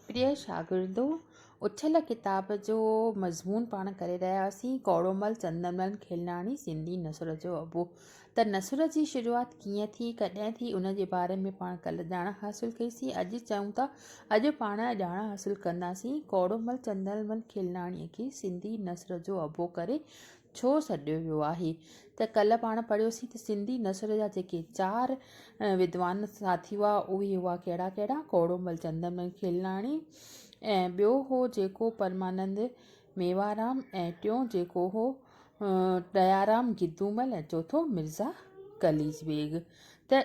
پريء شاگردو! اڇل ڪتاب جو مضمون پاڻ ڪري رهياسين، ڪوڙومل چندرمل کلناڻي سنڌي نثر جو ابو. ته نثر جي شروعات ڪيئن ٿي، ڪڏهن ٿي، ان جي باري ۾ پاڻ ڪلهه ڄاڻ حاصل ڪئي سين، اڄ چئون ٿا، اڄ پاڻ ڄاڻ حاصل ڪنداسين، ڪوڙومل چندرمل کلناڻيء کي سنڌي نثر جو ابو ڪري ڇو سڏيو ويو آهي ته ڪلهه پاڻ پڙهيوسين ته سنڌي نثر جا جيڪي چار ودوان ساٿي هئا اهي هئا ڪهڙا ڪهڙا ڪوڙومل چندرمل کيلناڻي ۽ ٻيو هو جيڪو پرمانند ميوارام ۽ ٽيون جيڪو هو ڏيارام گدومل ۽ چوٿون مرزا قليچ بيگ ته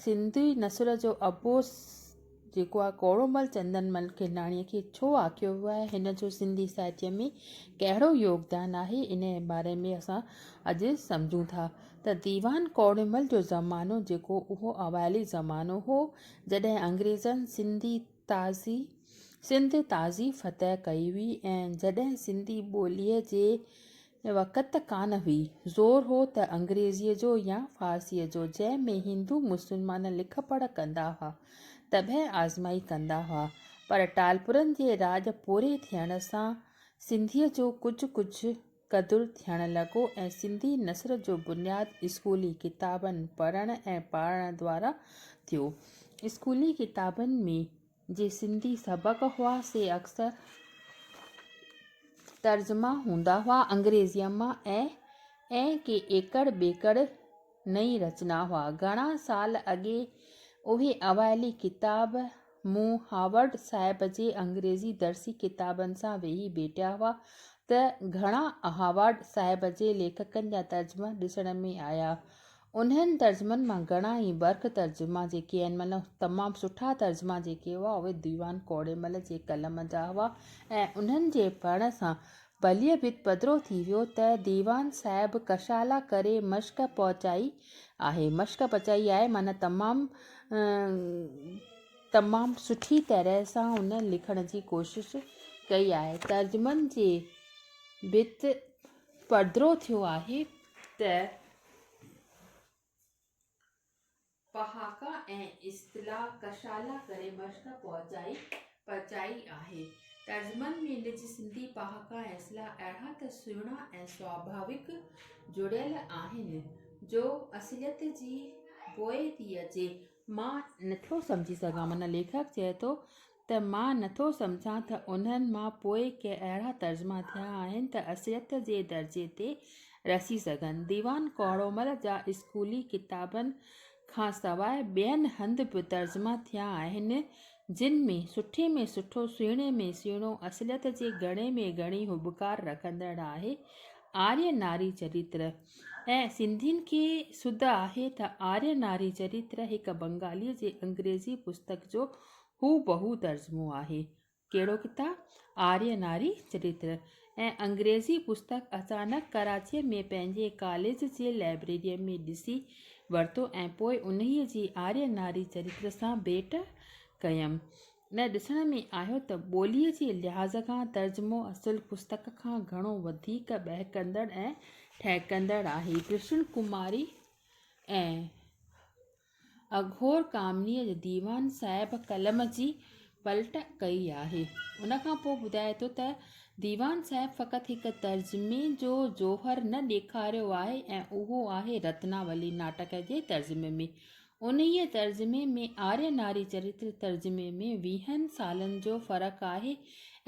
سنڌي نثر جو ابو جيڪو آ ڪوڙومل چندنمل کيلاڻيء کي ڇو آکيو ويو آهي، هن جو سنڌي ساهتيه ۾ ڪهڙو يوگدان آهي، انهيء باري ۾ اسان اڄ سمجهون ٿا ته ديوان ڪوڙومل جو زمانو جيڪو اهو اوائلي زمانو هو، جڏهن انگريزن سنڌي تازي سنڌ تازي فتح ڪئي هئي ۽ جڏهن سنڌي ٻوليء جي وقت ته ڪانه هئي. زور هو ته انگريزيء جو يا فارسيء جو، جنهن ۾ هندو مسلمان لک پڙهه ڪندا هئا، طبعي آزمائي ڪندا هئا. پر ٽالپرن جي راڄ پوري ٿيڻ سان سنڌيء جو ڪجهه ڪجهه قدر ٿيڻ لڳو ۽ سنڌي نثر جو بنياد اسڪولي ڪتابن پڙهڻ ۽ پاڙهڻ دوارا ٿيو. اسڪولي ڪتابن ۾ جي سنڌي سبق هئا سي اڪثر ترجما هوندا هئا انگريزيء مان ۽ ڪي ايڪڙ ٻيڪڙ نئين رچنا هئا. گهڻا سال اڳي اهي اوائلي ڪتاب مون هاورڊ صاحب جي انگريزي درسي ڪتابن سان ويهي ڀيٽيا هئا ته گهڻا هاورڊ صاحب جي ليکڪن جا ترجما ڏسڻ ۾ آيا. انهن ترجمن مان گهڻا ئي برک ترجما جيڪي ان مهل تمام سٺا ترجما جيڪي هئا اهي ديوان ڪوڙيمل جي قلم جا هئا ۽ انهن جي پڙهڻ سان بليء بت پڌرو ٿي ويو ته ديوان صاحب ڪشالا ڪري مشق پهچائي آهي مشق پچائي آهي معنيٰ تمام تمام سٺي طرح سان هن لکڻ جي ڪوشش ڪئي آهي ترجمن جي بت پڌرو ٿيو آهي ته پهاڪا ۽ اصطلاح ڪشالا ڪري مشق پچائي آهي. ترجمن ۾ نج سنڌي پهاڪا ۽ اصطلاح اهڙا ته سهڻا ۽ سواڀاويڪ جڙيل آهن جو اصليت جي بوء ٿي اچي. مان نٿو سمجهي سگهان معنيٰ ليکڪ چئي ٿو ته. ته مان نٿو سمجهان ته انهن مان پوء ڪي اهڙا ترجما ٿيا آهن ته اصليت جي درجي تي رسي سگهن. ديوان ڪوڙومل جا اسڪولي ڪتابن کان سواء ٻين هنڌ به ترجما ٿيا آهن، جن ۾ سٺي ۾ سٺو، سهڻي ۾ سهڻو، اصليت جي گهڻي ۾ گهڻي هٻڪار رکندڙ آهي، آريه ناري چريتر. ۽ سنڌين کي سڌ آهي ته آريه ناري چريتر هڪ بنگاليء جي انگريزي پستڪ جو هو بهو ترجمو آهي. ڪهڙو ڪتاب؟ آريه ناري چريتر ۽ انگريزي پستڪ اچانڪ ڪراچيء ۾ پنهنجي ڪاليج جي لئبريريء ۾ ڏسي ورتو ۽ پوء انهيء جي آريه ناري چريتر سان ڀيٽ ڪيم. نه ڏسڻ ۾ آيو ته ٻوليء جي لحاظ کان ترجمو اصل پستڪ کان گهڻو وڌيڪ ٻهڪندڙ ۽ ٺهڪندڙ آهي. ڪرشن ڪماري ۽ اگهور ڪامنيء جي ديوان صاحب قلم جي پلٽ ڪئي آهي. ان کان پوء ٻڌائي ٿو ته، ديوان صاحب فقط هڪ ترجمي جو جوهر نه ڏيکاريو آهي ۽ اهو آهي رتناولي ناٽڪ جي ترجمي ۾. انهيء ترجمي ۾ آريه ناري چريتر ترجمي ۾ ويهن سالن جو فرق آهي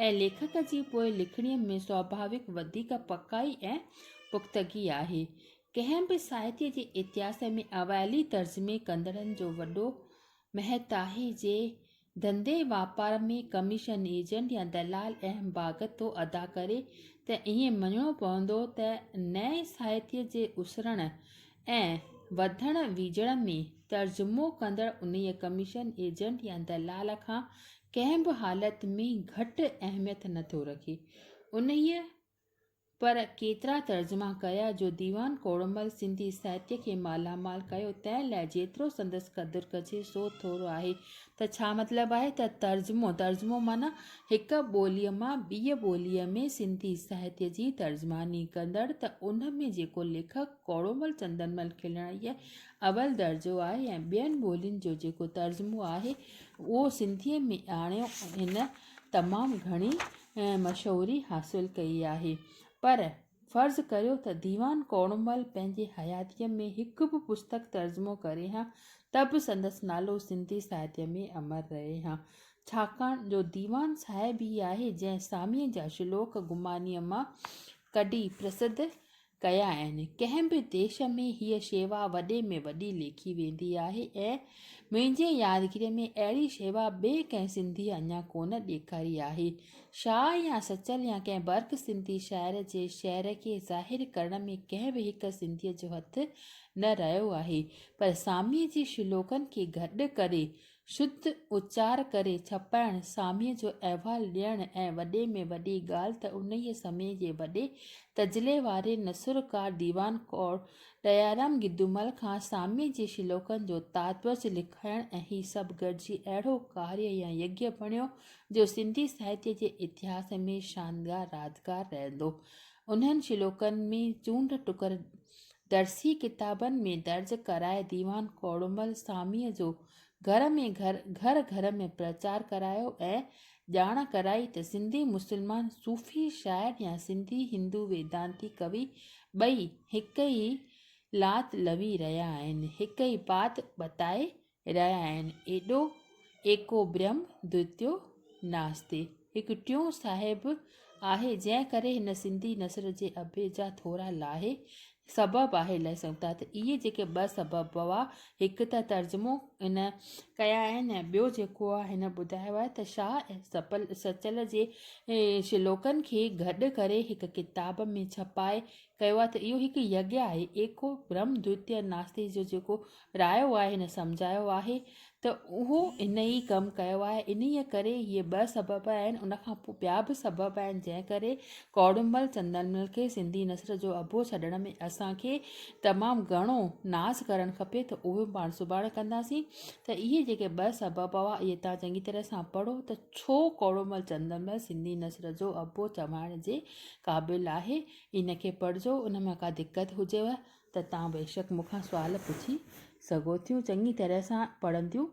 ۽ ليکڪ جي پوء لکڻيء ۾ سوڀاويڪ وڌيڪ پڪائي ۽ پختگي آهي. ڪنهن به ساهتي جي اتهاس ۾ اوائلي ترجمي ڪندڙن جو وڏو مهتاهي جي ڌنڌي واپار ۾ ڪميشن ايجنٽ يا دلال اهم ڀاڳ ٿو ادا ڪري ته ائين مڃڻو پوندو ته نئين ساهتي جي اسرڻ ۽ وڌڻ ويجهڻ ۾ ترجمو ڪندڙ انهي ڪميشن ايجنٽ يا دلال کان ڪنهن به حالت ۾ گهٽ اهميت نه ٿو رکي انهي پر ڪيترا ترجما ڪيا جو ديوان ڪوڙمل سنڌي ساهتيه کي مالا مال ڪيو تنهن لاء جيترو سندس قدر ڪجي سو ٿورو آهي ته ڇا مطلب آهي ته ترجمو ترجمو معنيٰ هڪ ٻوليء مان ٻيء ٻوليء ۾ سنڌي ساهتيه جي ترجماني ڪندڙ ته ان ۾ جيڪو ليکڪ ڪوڙمل چندرمل کلڻيء اول درجو آهي ۽ ٻين ٻولين جو جيڪو ترجمو آهي اهو سنڌيء ۾ آڻيو هن تمام گهڻي ۽ مشهوري حاصل ڪئي آهي، پر فرض ڪريو ته ديوان ڪوڙمل پنهنجي حياتيء ۾ هڪ به پستڪ ترجمو ڪري ها ته به سندس نالو سنڌي ساهتيه ۾ امر رهي ها، ڇاڪاڻ جو ديوان صاحب ئي آهي جنهن ساميء جا شلوڪ گمانيء مان ڪڍي پرسڌ ڪيا آهن ڪنهن به ديش ۾ هيء شيوا وڏي ۾ وڏي ليکي ويندي آهي ۽ منهنجي يادگيري ۾ اهڙي شيوا ٻئي ڪنهن سنڌيء اڃا ڪونه ڏيکاري آهي شاهه يا سچل يا ڪنهن برک سنڌي شاعر جي شعر کي ظاهر ڪرڻ ۾ ڪنهن به هڪ سنڌيء جو هٿ نه رهيو آهي پر ساميء جي شلوڪن کي گڏ ڪري شڌ اچار ڪري ڇپائڻ، ساميء جو احوال ڏيڻ ۽ وڏي ۾ وڏي ڳالهه ته انهيء سمي جي وڏي تجلي واري نثرڪار ديوان ڪور ڏيارام گدومل کان ساميء جي شلوڪن جو تاتوج لکائڻ ۽ هي سڀ گڏجي اهڙو ڪاريه يا يگيه بڻيو، جو سنڌي ساهتيه جي اتهاس ۾ شاندگار رازگار رهندو. انهن شلوڪن ۾ چونڊ ٽڪر درسي ڪتابن ۾ درج ڪرائي ديوان ڪوڙمل ساميء جو گهر ۾ گهر، گهر گهر ۾ پرچار ڪرايو ۽ ڄاڻ ڪرائي ته سنڌي مسلمان صوفي شاعر يا سنڌي هندو ويدانتي ڪوي ٻئي هڪ ئي لات لوي رهيا آهن، هڪ ئي بات بتائي رهيا آهن، ايڏو ايڪو برهم دويتيو ناستي هڪ ٽيون صاحب آهي، جنهن ڪري هن سنڌي نثر جي اڀي جا ٿورا لاهي سبب آهي لهي سگهون ٿا ته اهي جيڪي ٻه سبب هئا هڪ ته ترجمو هن ڪيا آهن ۽ ٻيو جيڪو آهي هن ٻڌايو آهي ته شاهه سپل سچل جي شلوڪن کي گڏ ڪري هڪ ڪتاب ۾ ڇپائي ڪيو آهي ته اهو هڪ يگيا آهي ايڪو برهم دويتيو ناستي جو جيڪو رايو آهي نه سمجهايو آهي ته اهو ان ئي ڪم ڪيو آهي انهيء ڪري هي ٻه سبب آهن ان کان پوء ٻيا به سبب آهن جنهن ڪري ڪوڙمل چندرمل کي سنڌي نثر جو اڀو ڇڏڻ ۾ اسان کي تمام گهڻو ناز ڪرڻ کپي ته اهو پاڻ سڀاڻي ڪنداسين ته اهي جيڪي ٻه سبب هئا اهي تان چڱي طرح سان پڙهو ته ڇو ڪوڙمل چندرمل سنڌي نثر جو اڀو چوائڻ جي قابل آهي ان کي پڙهجو ان ۾ ڪا دقت هجيو ته توهان بيشڪ مون کان سوال پڇي سگهو ٿيون چڱي طرح سان پڙهنديون هجو.